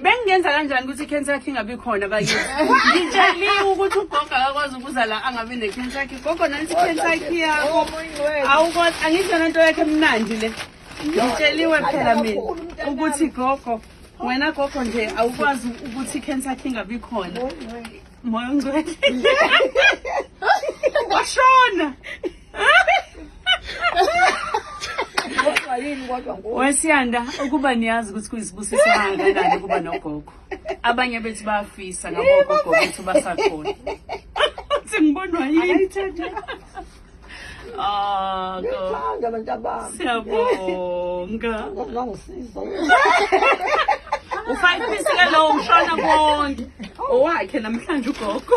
bengingenza kanjani ukuthi i-cancer yakhe ingabi khona bakithi ngitsheliwe ukuthi ugogo akakwazi ukuza la angabi ne-cancer yakhe gogo nansi i-cancer yakhe yakho awukwazi angisho nento yakhe emnandi le ngitsheliwe phela mina ukuthi gogo wena gogo nje awukwazi ukuthi i-cancer yakhe ingabi khona moya ongcwele washona wesiyanda ukuba niyazi ukuthi kuyisibusiso kangakanani ukuba nogogo abanye bethu bayafisa ngabogogo bethu basakhona uthi ngibonwa yini Ah, ngithanda abantu abami. Siyabonga. Ngangisiza. Ufayiphisile lowo mshwana konke. Owakhe namhlanje ugogo.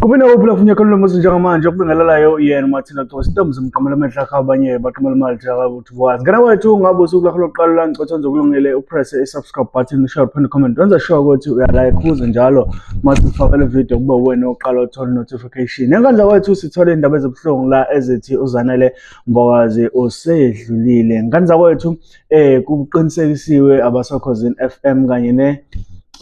Kube nawophula kufunye kalo mose njengamanje okubingelelayo yena uMartina Gcose intombi zimqamela amehla akho abanye baqamela imali jaka ukuthi wazi ngena wethu ngabe usuku lakho lokuqala langicotha nje kulungile upress i-subscribe button share phone comment wenza sure ukuthi uyalike kuze njalo mase ufakele video kube wena oqala uthola notification Location. Enkandla kwethu sithole indaba ezibuhlungu la ezithi uZanele Mbokazi usedlulile. Nkandla kwethu eh kuqinisekisiwe abasokhozini FM kanye ne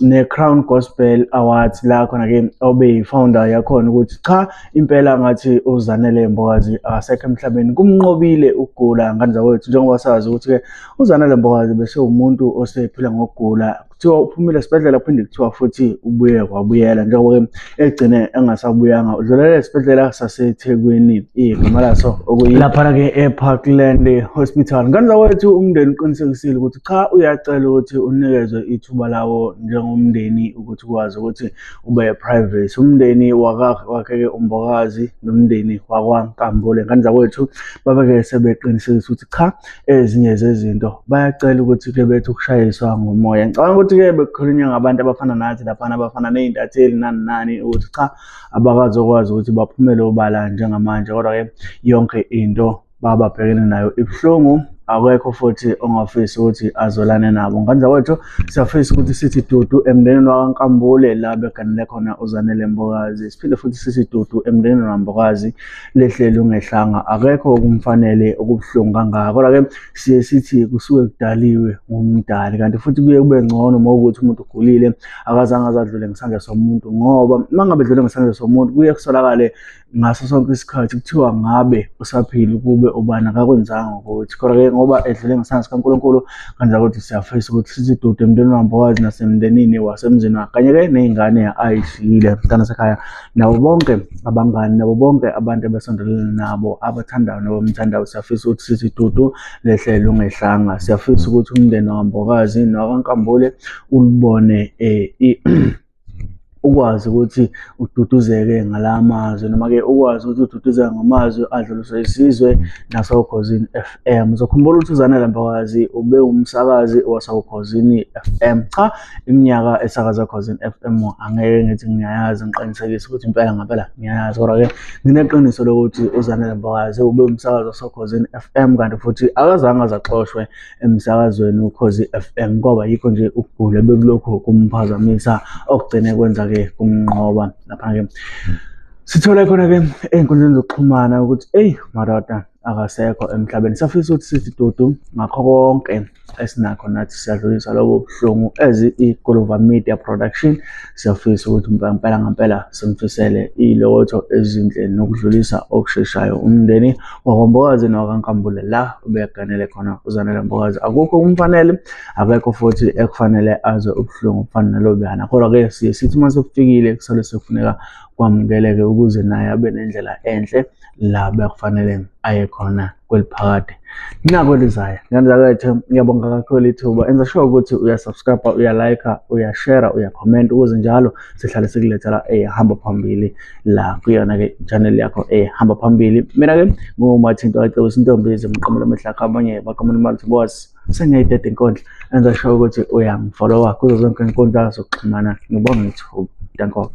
ne-Crown Gospel Awards la khona ke obe yi-founder yakhona ukuthi cha impela ngathi uZanele Mbokazi akasekho emhlabeni kumnqobile ukugula ngandla kwethu njengoba sazi ukuthi-ke uZanele Mbokazi bese umuntu osephila ngokugula kuthiwa uphumile esibhedlela kuphinde kuthiwa futhi ubuye kwabuyela njengoba-ke egcine engasabuyanga udlulele esibhedlela sasethekwini igama laso okuyilaphana-ke eparkland hospital nganza wethu umndeni uqinisekisile ukuthi cha uyacela ukuthi unikezwe ithuba lawo njengomndeni ukuthi ukwazi ukuthi ube private umndeni wakhe-ke umbokazi nomndeni wakwankambule nganza wethu babeke sebeqinisekisa ukuthi cha ezinye zezinto bayacela ukuthi ke bethi ukushayiswa ngomoya ngicabanga ukuthi ke bekukhulunywa ngabantu abafana nathi laphana abafana ney'ntatheli nani nani ukuthi cha abakazokwazi ukuthi baphumele obala njengamanje kodwa ke yonke into bababhekene nayo ibuhlungu akekho futhi ongafisi ukuthi azolane nabo ngandla kwethu siyafisa ukuthi sithi dudu emndenini wakankambule la beganele khona uzanele mbokazi siphinde futhi sithi dudu emndenini wambokazi lehlele ungehlanga akekho okumfanele okubuhlungu kangaka kodwa ke siye sithi kusuke kudaliwe ngumdali kanti futhi kuye kube ngcono uma ukuthi umuntu ugulile akazange azadlule ngesandla somuntu ngoba uma ngabe dlule ngesandla somuntu kuye kusolakale ngaso sonke isikhathi kuthiwa ngabe usaphila ukube ubani akakwenzanga ukuthi kodwa ke ngoba edlule ngesandla sikankulunkulu kanti akuthi siyafisa ukuthi sizidude emndenini wambokazi nasemndenini wasemzini wakhe kanye ke ney'ngane ayishiyile mntana sekhaya nabo bonke abangani nabo bonke abantu abasondelene nabo abathandayo nabamthandayo siyafisa ukuthi sizidudu lehlelo ngehlanga siyafisa ukuthi umndeni wambokazi nowakankambule ulibone um ukwazi ukuthi ududuzeke ngala mazwi noma-ke ukwazi ukuthi ududuzeke ngamazwi adluliswe isizwe nasokhozini f m uzokhumbula ukuthi uzanela mbakazi ube umsakazi wasokhozini f m cha iminyaka esakaza cause in FM angeke ngithi ngiyayazi ngiqinisekise ukuthi impela ngempela ngiyayazi kodwa ke ngineqiniso lokuthi uzanele mbakazi ube umsakazo sokhozi in FM kanti futhi akazange azaxoshwe emsakazweni ukhozi FM kwaba yikho nje ukugula bekulokhu kumphazamisa okugcine kwenza ke kumnqoba lapha ke sithola khona ke ey'nkundleni zokuxhumana ukuthi eyi madoda akasekho emhlabeni safisa ukuthi sithi dudu ngakho konke esinakho nathi siyadlulisa lobo buhlungu as igolova media production siyafisa ukuthi ngempela ngempela simfisele ilotho ezinhle nokudlulisa okusheshayo umndeni wakwambokazi nowakankambule la ubeyaganele khona uzanele mbokazi akukho kumfanele akekho futhi ekufanele aze ubuhlungu kufana nalobuyana kodwa-ke siye sithi uma sekufikile kusale sekufuneka kwamukeleke ukuze naye abe nendlela enhle la bekufanele aye khona kweliphakade nxa kwelizayo ngendzakwethu ngiyabonga kakhulu ithuba enza sure ukuthi uyasubscribe uyalike uyashare uyakhomment ukuze njalo sihlale sikulethela ehamba phambili la kuyona-ke channel yakho ehamba phambili mina-ke ngumathinto acebisa intombi ezimqamela amahlakho abanye bakamona imali ukuthi boss sengiyayideda inkundla enza sure ukuthi uyangifollowa kuzo zonke inkundla zokuxhumana ngibonga ithuba dankobe